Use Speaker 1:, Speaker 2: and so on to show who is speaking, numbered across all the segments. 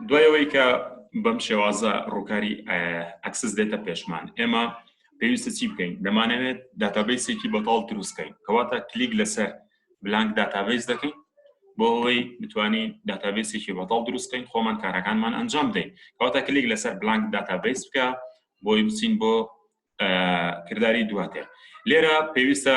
Speaker 1: دوایەوەی کە بەم شێوازە ڕووکاری ئەکسس دێتە پێشمان ئێمە پێویستە چی بکەین دەمانەوێت داتابیسێکی بەتاڵ دروستکەین کەواتە کلیک لەسەر بلانک داتابیس دەکەین بۆ ئەوەی بتوانین داتابیسێکی بەتاڵ دروستکەین خۆمان کارەکانمان ئەنجام دەین کەواتە کلیک لەسەر بلانک داتابیس بکە بۆی بچین بۆ کردداری دواتر لێرە پێویستە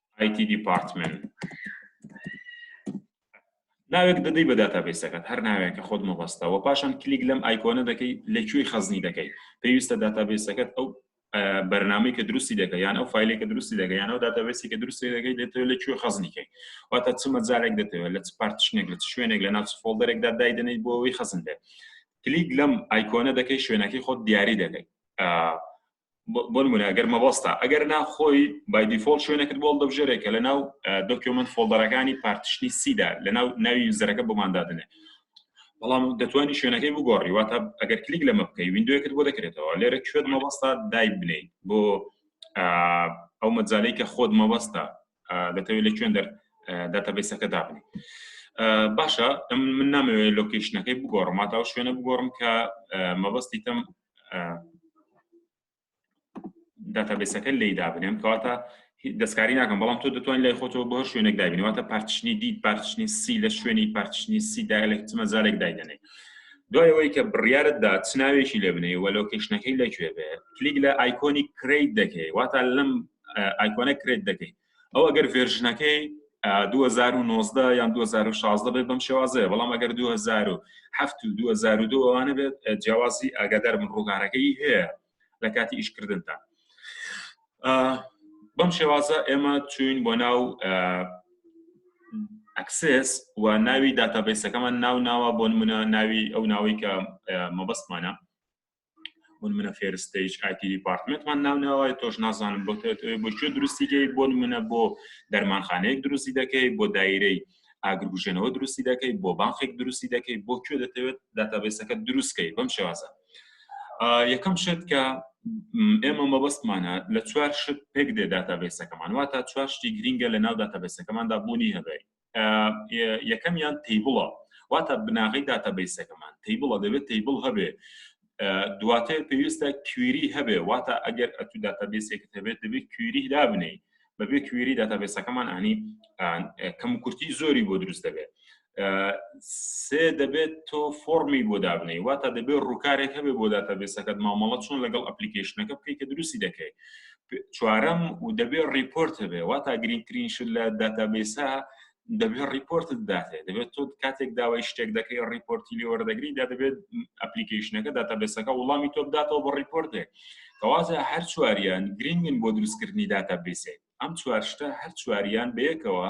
Speaker 1: IT department ناوێک دەدەی بە داتابیسەکەت هەر ناوێکە خۆت مەبەستەوە پاشان کلیک لەم ئایکۆنە دەکەی لە کوێی خەزنی دەکەی پێویستە داتابیسەکەت ئەو بەرنامەی کە دروستی دەکە یان ئەو فیلێک کە دروستی دەگە یانەوە داتابێسی کە دروستی دەگەی دەتەوە لە کوێ خەزنیکەی واتە چ مەجارێک دەتەوە لە چ پارتشنێک لە شوێنێک لە ناچ فۆڵدەرێکدا دایدنەی بۆ ئەوی خەزن دێت کلیک لەم ئایکۆنە دەکەی شوێنەکەی خۆت دیاری دەکەیت بۆن مونە ئەگەر مەبەستا ئەگەر نا خۆی بایدیفۆڵ شوێنەکرد بۆڵ دەبژێرێکە لە ناو دۆکیومنت فۆڵدەرەکانی پارتشنی سیدا لە ناو ناوی یوزەرەکە بۆماندادنێ بەڵام دەتوانانی شوێنەکەی بگۆڕی واتە ئەگەر کلیک لەمە بکەی وینندوەکرد بۆ دەکرێتەوە لێرە کوێت مەبەستا دای بنیت بۆ ئەو مەجالەی کە خۆت مەبەستا دەتەوێت لە کوێن دەر داتەبیسەکە دابنی باشە من نامەوێت لۆکیشنەکەی بگۆڕم ماتاو شوێنە بگۆڕم کە مەبەستی تەم داتابێسەکە لی دابنێم کەواتە دەستکاری ناکەم بەڵام تۆ دەتوانین لای خۆتەوە بۆ شوێنێک دابینەوەتە پارچنی دی پارچنی سی لە شوێنی پارچنی سی دایلێک چمە زارێک دایدەنێ دوای ئەوەی کە بڕیارت دا چ ناوێکی لێ بنێ وە لۆکیشنەکەی لەکوێ بێ کلیک لە ئایکۆنی کریت دەکەی واتا لەم ئایکۆنە کرێت دەکەیت ئەو ئەگەر ڤێرژنەکەی 2009 یان 2016 بێت بەم شێوازەیە بەڵام ئەگەر 2007 و 2002 ئەوانە بێت جیاوازی ئاگادار من ڕووگارەکەی هەیە لە کاتی ئیشکردندا بەم شێوازە ئێمە چوین بۆ ناو ئەکسس و ناوی داتابیسەکەمان ناو ناوە بۆ منە ناوی ئەو ناوەی کە مەبەستمانە بۆ منە فێرستەیش ئایتی دیپارتمنتمان ناوناوای تۆش نازانم بۆ بۆ کوێ دروستیکەی بۆ منە بۆ دەرمانخانەیەک دروستی دەکەی بۆ دایرەی ئاگرگوژێنەوە دروستی دەکەی بۆ بانخێک دروستی دەکەی بۆ کوێ دەتەوێت داتابێسەکە دروستکەی بەم شێوازە یەکەم شت کە ئێمە مەبەستمانە لە چوار شت پێک دێ داتابێسەکەمان واتە چوار شتی گرینگە لە ناو داتابێسەکەماندا بوونی هەبێت یەکەمیان تیبڵە واتە بناغی داتابیسەکەمان تیبڵە دەبێت تیبڵ هەبێ دواتر پێویستە کویری هەبێ واتە ئەگەر ئەتو داتابیسێکت هەبێت دەبێت کویری دابنەی بەبێ کوێری داتابێسەکەمان ئەنی کەم کورتی زۆری بۆ دروست دەبێت سێ دەبێت تۆ فۆرمی بۆ دابنەی واتە دەبێت ڕووکارێک هەبێ بۆ داتابێسەکەت مامەڵە چۆن لەگەڵ ئەپلیکیشنەکە بکەیت کە دروستی دەکەیت چوارەم و دەبێت ڕیپۆرت هەبێ وا تا گرنگترین شت لە داتابیسا دەبێت ڕیپۆرتت داتێ دەبێت تۆ کاتێک داوای شتێک دەکەی ڕیپۆرتی لێ وەردەگری دا دەبێت ئەپلیکیشنەکە داتابێسەکە وڵامی تۆ بداتەوە بە ڕیپۆرتێک کەوازە هەر چواریان گرنگن بۆ دروستکردنی داتابیسێک ئەم چوارشتە هەر چواریان بەیەکەوە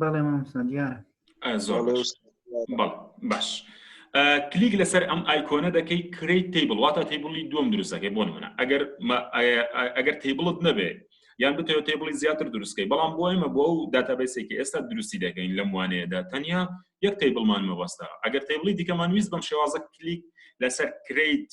Speaker 2: بەڵێ مامۆستا دیارە
Speaker 1: زۆر باش کلیک لەسەر ئەم ئایکۆنە دەکەی کریت تیبل واتە تیبلی دوم دروستەکەی بۆ منە ئەگەر ئەگەر تیبلت نەبێت یان بتەوە تیبلی زیاتر دروستکەی بەڵام بۆ ئێمە بۆ ئەو داتابیسێکی ئێستا دروستی دەکەین لەم وانەیەدا تەنیا یەک تیبلمان مەبەستا ئەگەر تیبلی دیکەمان ویست بەم شێوازە کلیک لەسەر کریت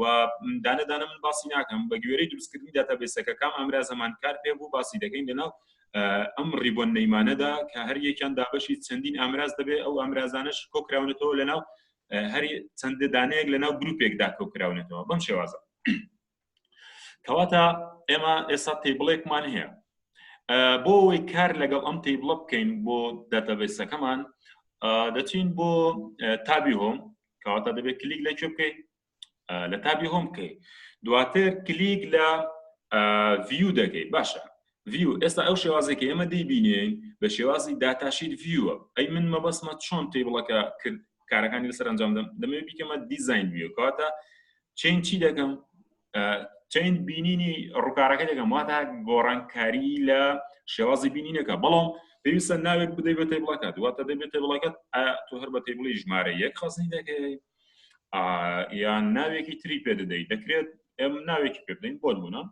Speaker 1: و دانە دانە من باسی ناکەم بە گوێرەی دروستکردنی داتابێسەکە کام ئامراز هەمان کار پێ بوو باسی دەکەین لەناو ئەم ڕیبۆن نەیمانەدا کە هەر یەکیان دابەشی چەندین ئامراز دەبێت ئەو ئامرازانش کۆکراونەتەوە لەناو هەری چەند دانەیەک لەناو گروپێکدا کۆکراونەتەوە بەم شێوازە کەواتە ئێمە ئێستا تیبڵێکمان هەیە بۆ ئەوەی کار لەگەڵ ئەم تیبڵە بکەین بۆ داتابێسەکەمان دەچین بۆ تابی هۆم کەواتە دەبێت کلیک لە کوێ بکەیت لە تابی هۆم بکەیت دواتر کلیک لە ڤیو دەکەیت باشە ڤیو ئێستا ئەو شێوازێکی ئێمە دەیبینین بە شێوازی داتاشیت ڤیوە ئەی من مەبەسمە چۆن تیبڵەکە کرد کارەکانی لەسەر ئەنجام دەم دەمێ بیکەمە دیزین ویوکاتە چین چی دەکەم چین بینینی ڕووکارەکە دەکەم واتە گۆڕانکاری لە شێوازی بینینەکە بەڵام پێویستە ناوێک بدەی بە تەیبڵەکە دواتە دەبێت تەیبڵەکەت تۆ هەر بە تەیبڵی ژمارە یەک خەزنی دەکەی یان ناوێکی تری پێ دەدەیت دەکرێت ئەم ناوێکی پێ بدەین بۆ بوونە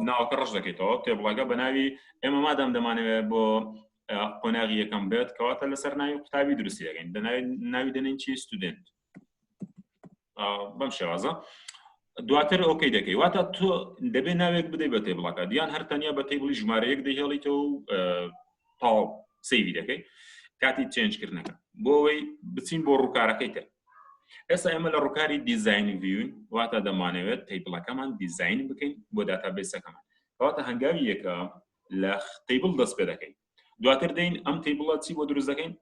Speaker 1: ناوکە ڕژ دەکەیتەوە تێبڵەکە بە ناوی ئێمە مادەم دەمانەوێت بۆ قۆناغی یەکەم بێت کەواتە لەسەر ناوی قوتابی دروستی دەگەین دەناوی ناوی دەنین چی ستودنت بەم شێوازە دواتر ئۆکەی دەکەی واتە تۆ دەبێت ناوێک بدەی بە تێبڵەکە دیان هەر تەنیا بە تێبڵی ژمارەیەک دەهێڵیتەوە و تاو سەیری دەکەی کاتی چێنجکردنەکە بۆ ئەوەی بچین بۆ ڕووکارەکەی تر ئێستا ئێمە لە ڕووکاری دیزایانی ویون واتە دەمانەوێت تەیبڵەکەمان دیزین بکەین بۆ داتابێسەکەمان کەواتە هەنگاوی یەکە لە تەیبڵ دەست پێ دەکەین دواتر دەین ئەم تەیبڵە چی بۆ دروست دەکەین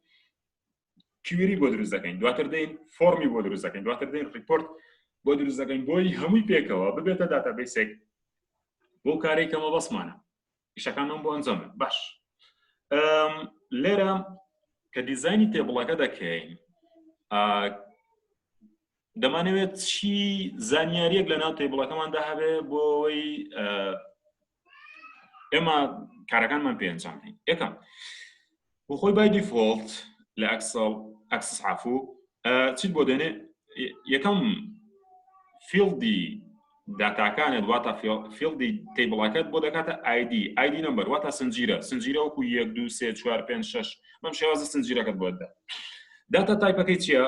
Speaker 1: کیوری بۆ دروست دەکەین دواتر دەین فۆرمی بۆ دروست دەکەین دواتر دەین ریپۆرت بۆ دروست دەکەین بۆی هەمووی پێکەوە ببێتە داتابیسێک بۆ کارێک کەمە بەسمانە ئیشەکانم بۆ ئەنجام باش لێرە کە دیزانی تێبڵەکە دەکەین دەمانەوێت چی زانیاریەک لە ناو تێبڵەکەماندا هەبێ بۆ ئەوەی ئێمە کارەکانمان پێنجان هەین یەکەم بۆ خۆی بای دیفۆڵت لە ئەکسڵ ئەکسس عفو چیت بۆ دێنێ یەکەم فیڵدی داتاکانت واتە فیڵدی تیبڵەکەت بۆ دەکاتە ئایدی ئایدی نمبەر واتە سنجیرە سنجیرە وەکو یەک دو سێ چوار پێ شش بەم شێوازە سنجیرەکەت بۆ دە داتا تایپەکەی چییە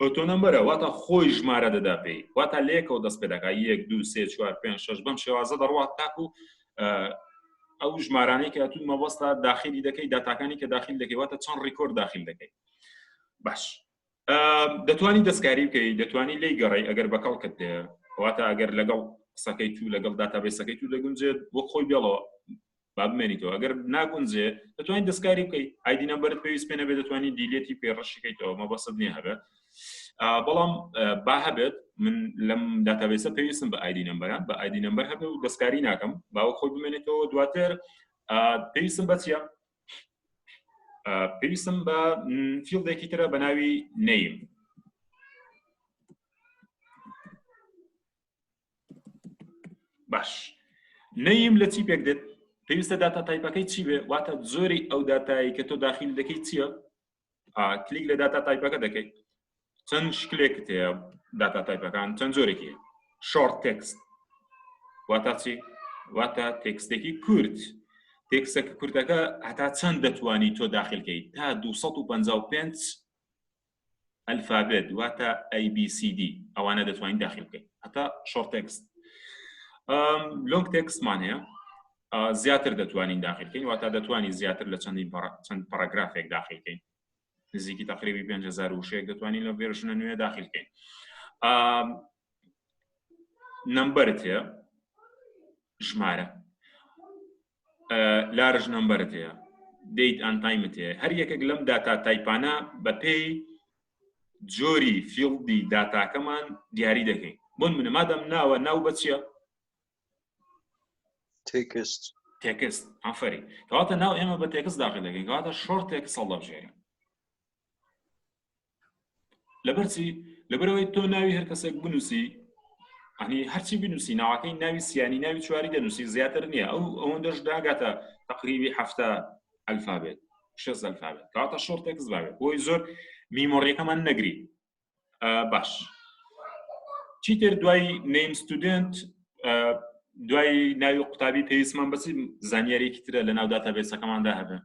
Speaker 1: ئۆتۆنۆمبەرە واتا خۆی ژمارە دەدا پێی واتا لە یەکەوە دەست پێدەکا یەک دوو سێ چوار پێنج شەش بەم شێوازە دەڕوات تاکو ئەو ژمارانەی کە تو مەبەستا داخلی دەکەی داتاکانی کە داخل دەکەی واتە چەند ڕیکۆرد داخل دەکەی باش دەتوانی دەستکاری بکەی دەتوانی لی گەڕی ئەگەر بەکەڵ کە دێ واتە ئەگەر لەگەڵ قسەکەی تو لەگەڵ داتابێسەکەی تو دەگونجێت وەک خۆی بێڵەوە با بمێنیتەوە ئەگەر ناگونجێ دەتوانین دەستکاری بکەیت ئایدی نەمبەرت پێویست پێ نەبێت دەتوانین دیلێتی پێ ڕەشیکەیتەوە مە بەسەد نیە هەبێت بەڵام با هەبێت من لەم داتابێسە پێویستم بە ئایدی نمبەران بە ئایدی نمبەر هەبێ و دەستکاری ناکەم باوە خۆی بمێنێتەوە دواتر پێویستم بە چیە پێویستم بە فیلدێکی ترە بە ناوی نیم باش نەیم لە چی پێک دێت پێویستە داتا تایپەکەی چی بێ واتە زۆری ئەو دااتایی کە تۆ داخیل دەکەی چییە کلیک لە داتا تایپەکە دەکەیت چەند شکلێک تەیە داتا تایپەکان چەند زۆرێکی شۆرت تێکست واتە چی واتە تێکستێکی کورت تێکسە کوردەکە هەتا چەند دەتوانی تۆ داخلکەیت تا 255 ئەلفابێت واتە ABCD ئەوانە دەتوانین داخل بکەین هەتا شۆرت تێکست لۆنگ تێکستمان هەیە زیاتر دەتوانین داخلکەین واتا دەتوانین زیاتر لە چەندین چەند پاراگرافێک داخلکەین نزیکی تقریبی 5هزار وشەیەک دەتوانین لە ڤێرژنە نوێ داخلکەین نمبرت هەیە ژمارە لارژ نمبرت هەیە دیت ئەن تایمت هەیە هەر یەکێک لەم داتا تایپانە بەپێی جۆری فیڵدی داتاکەمان دیاری دەکەین بۆن منە مادەم ناوە ناو بەچە تێکست تێکست ئەفری کەواتە ناو ئێمە بە تێکست داخل دەکەین کەواتە شۆر تێکس هەڵدەبژێرین لەبەرچی لەبەرەوەی تۆ ناوی هەر کەسێک بنووسی ئەنی هەرچی بنووسی ناوەکەی ناوی سیانی ناوی چواری دەنووسی زیاتر نییە ئەو ئەوەندەش داگاتە تقریبی هەفتە ئەلفابێت شێ ئەلفابێت کاتە شۆرتێکس باێت بۆی زۆر میمۆڕیەکەمان نەگری باش چیتر دوای نیم ستودنت دوای ناوی قوتابی پێویستمان بەسی زانیارێکی ترە لە ناو داتا بێسەکەماندا هەبێت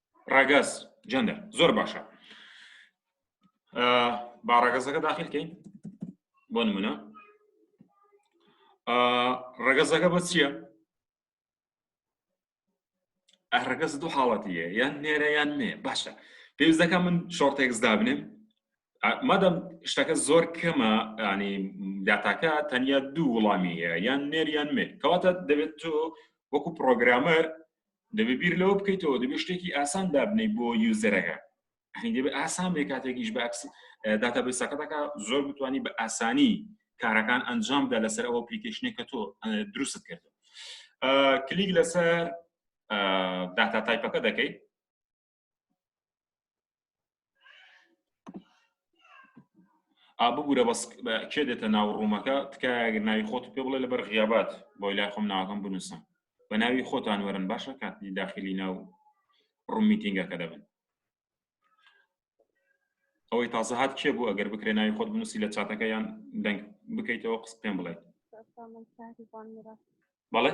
Speaker 3: ڕگەز جەندەر زۆر
Speaker 1: باشە با ڕگەزەکە داخلکەین بۆ نمونە ڕگەزەکە بە چییە؟ ڕگەز دوو حاڵەتیە یان نێرە یان نێ باشە پێویست دەکە من شۆرتێکس دابنێم مادەم شتەکە زۆر کەمە ینی داتاکە تەنیا دوو وڵامی هەیە یان نێریان مێ کەواتە دەبێت تۆ وەکو پرۆگرامەر دەبێ بیر لەوە بکەیتەوە دەبێ شتێکی ئاسان دابنەی بۆ یوزەرەکە دەبێت ئاسان بێ کاتێکیش باکس داتا بەسەکەتەکە زۆر بتانی بە ئاسانی کارەکان ئەنجامدا لەسەر ئەو پلیکیشنێک کە تۆ دروست کرد کلیک لەسەر داتا تایپەکە دەکەیت ئابگورە بەس کێ دێتە ناو ڕوومەکە تکایەگەر ناوی خۆت پێ بڵێ لەبەر غیابات بۆی لای خۆم ناوەکەم بنووسم بە ناوی خۆتان وەرن باشە کاتی داخلی ناو ڕوم میتینگەکە دەبن ئەوەی تازە هاات کێ بوو ئەگەر بکرێ ناوی خۆت بنووسی لە چاتەکە یان دەنگ بکەیتەوە قس پێم بڵێ بەڵێ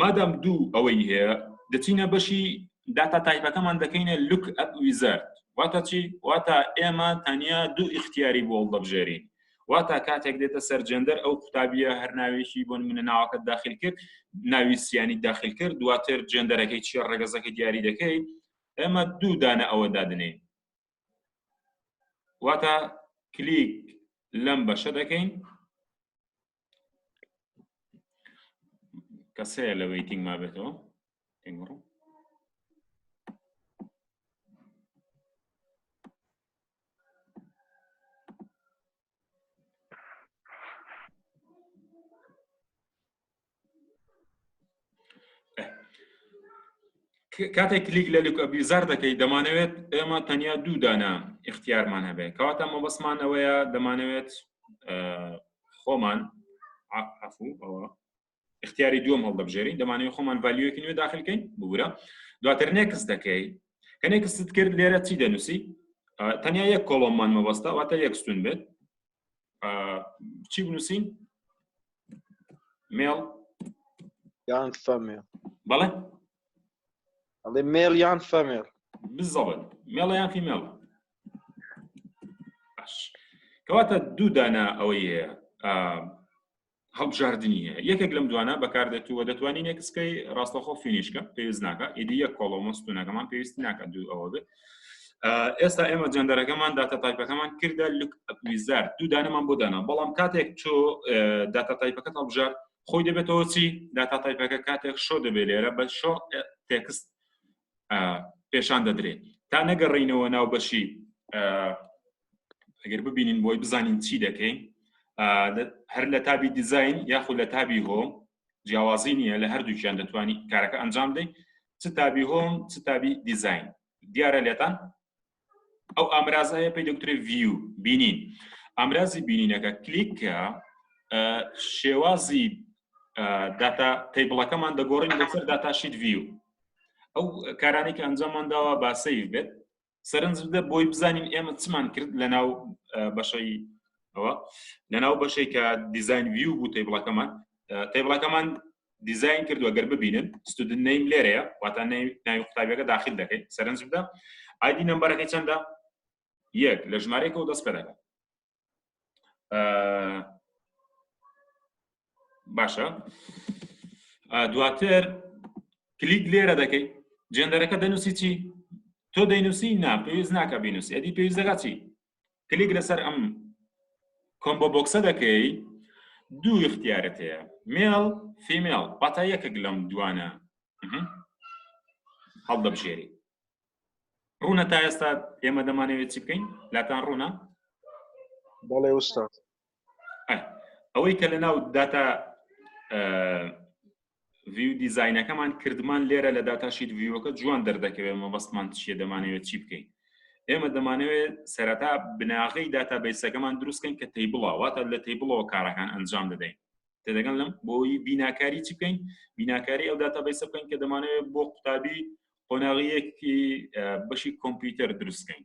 Speaker 1: مادام دوو ئەوەی هەیە دەچینە بەشی داتا تایپەکەمان دەکەینە لوک ئەپ ویزەرد واتە چی واتە ئێمە تەنیا دوو ئیختیاری بۆڵ دەبژێرین واتە کاتێک دێتە سەر جێندەر ئەو قوتابیە هەر ناوێکی بۆن منە ناوەکە داخل کرد ناوی سیانی داخل کرد دواتر جێندەرەکەی چیە ڕێگەزەکە دیاری دەکەیت ئێمە دوو دانە ئەوە دادنین واتە کلیک لەم بەشە دەکەین کەسەیە لە ویتنگ ما بێتەوە تێگەڕم کاتێک کلیک لە لوکە بیزار دەکەیت دەمانەوێت ئێمە تەنیا دوو دانە اختیارمان هەبێت کەواتە مەبەستمانەوەیە دەمانەوێت خۆمان عفو ئەوە اختیاری دووەم هەڵدەبژێرین دەمانەوە خۆمان ڤالیۆکی نوێ داخلکەین ببورە دواتر نێکس دەکەی کە نێکست کرد لێرە چی دەنووسی تەنیا یەک کۆڵۆممان مەبەستە واتە یەکستون بێت چی بنووسین مێڵ
Speaker 3: یان فەمێ بەڵێ ئەڵێ مێڵ یان فەمێڵ بزەڵێت
Speaker 1: مێڵە یان فیمێڵ باش کەواتە دوو دانە ئەوەی هەیە هەڵبژاردننی هەیە یەکێک لەم دوانە بەکاردێت و دەتوانین نێکسکەی ڕاستەخۆ فینیشکە پێویست ناکە ئیدی یەک کۆڵۆمەستونەکەمان پێویست ناکە دوو ئەوە بێت ئێستا ئێمە جەندەرەکەمان داتا تایپەکەمان کردە لوک ئەپویزار دوو دانەمان بۆ دانا بەڵام کاتێک تۆ داتا تایپەکە هەڵبژار خۆی دەبێتەوە چی داتا تایپەکە کاتێک شۆ دەبێت لێرە بە شۆ تێکست پێشان دەدرێت تا نەگەڕینەوە ناو بەشی ئەگەر ببینین بۆی بزانین چی دەکەین هەر لە تابی دیزین یاخود لە تابی هۆم جیاوازی نییە لە هەردووکیان دەتوانانی کارەکە ئەنجام دەین چ تابی هۆم چ تابی دیزین دیارە لێتان ئەو ئامرازایە پێی دکتری ڤیو بینین ئامرازی بینینەکە کلیکە شێوازی داتا تەیبڵەکەمان دەگۆڕین لەسەر داتاشیت ڤیو ئەو کارانێکی ئەنجاممانداوە با سیف بێت سەرنج بدە بۆی بزانین ئێمە چمان کرد لە ناو بەشەی ئەوە لە ناو بەشێک کە دیزاین ویو بوو تەیبڵەکەمان تەیبڵەکەمان دیزاین کردووە گەر ببینن ستودن نیم لێرەیە واتە ناوی قوتابیەکە داخل دەکەین سەرنج بدە ئایدی نمبەرەکەی چەندە یەک لە ژمارەیەکەوە دەست پێ دەکات باشە دواتر کلیک لێرە دەکەیت جێندەرەکە دەنووسی چی تۆ دەینوسی نا پێویست ناکە بینوسی ئەدی پێویست دەگات چی کلیک لەسەر ئەم کۆمبۆ بۆکسە دەکەی دوو اختیارت هەیە مێڵ فیمێڵ پاتا یەکێک لەم دوانە هەڵدەبژێری ڕوونە تا ئێستا ئێمە دەمانەوێت چی بکەین لاتان ڕوونە
Speaker 3: بەڵێ وستا
Speaker 1: ئەوەی کە لە ناو داتا ڤیو دیزینەکەمان کردمان لێرە لە داتاشیت ڤیوەکە جوان دەردەکەوێت مەبەستمان چیە دەمانەوێت چی بکەین ئێمە دەمانەوێت سەرەتا بناغی داتا بیسەکەمان دروستکەین کە تی بڵاواتە لە تی بڵەوە کارەکان ئەنجام دەدەین تێدەگەن لەم بۆی بیناکاری چ بکەین بیناکاری ئەو داتا بیسە بکەین کە دەمانەوێت بۆ قوتابی قۆناغیەکی بەشی کۆمپیوتەر دروستکەین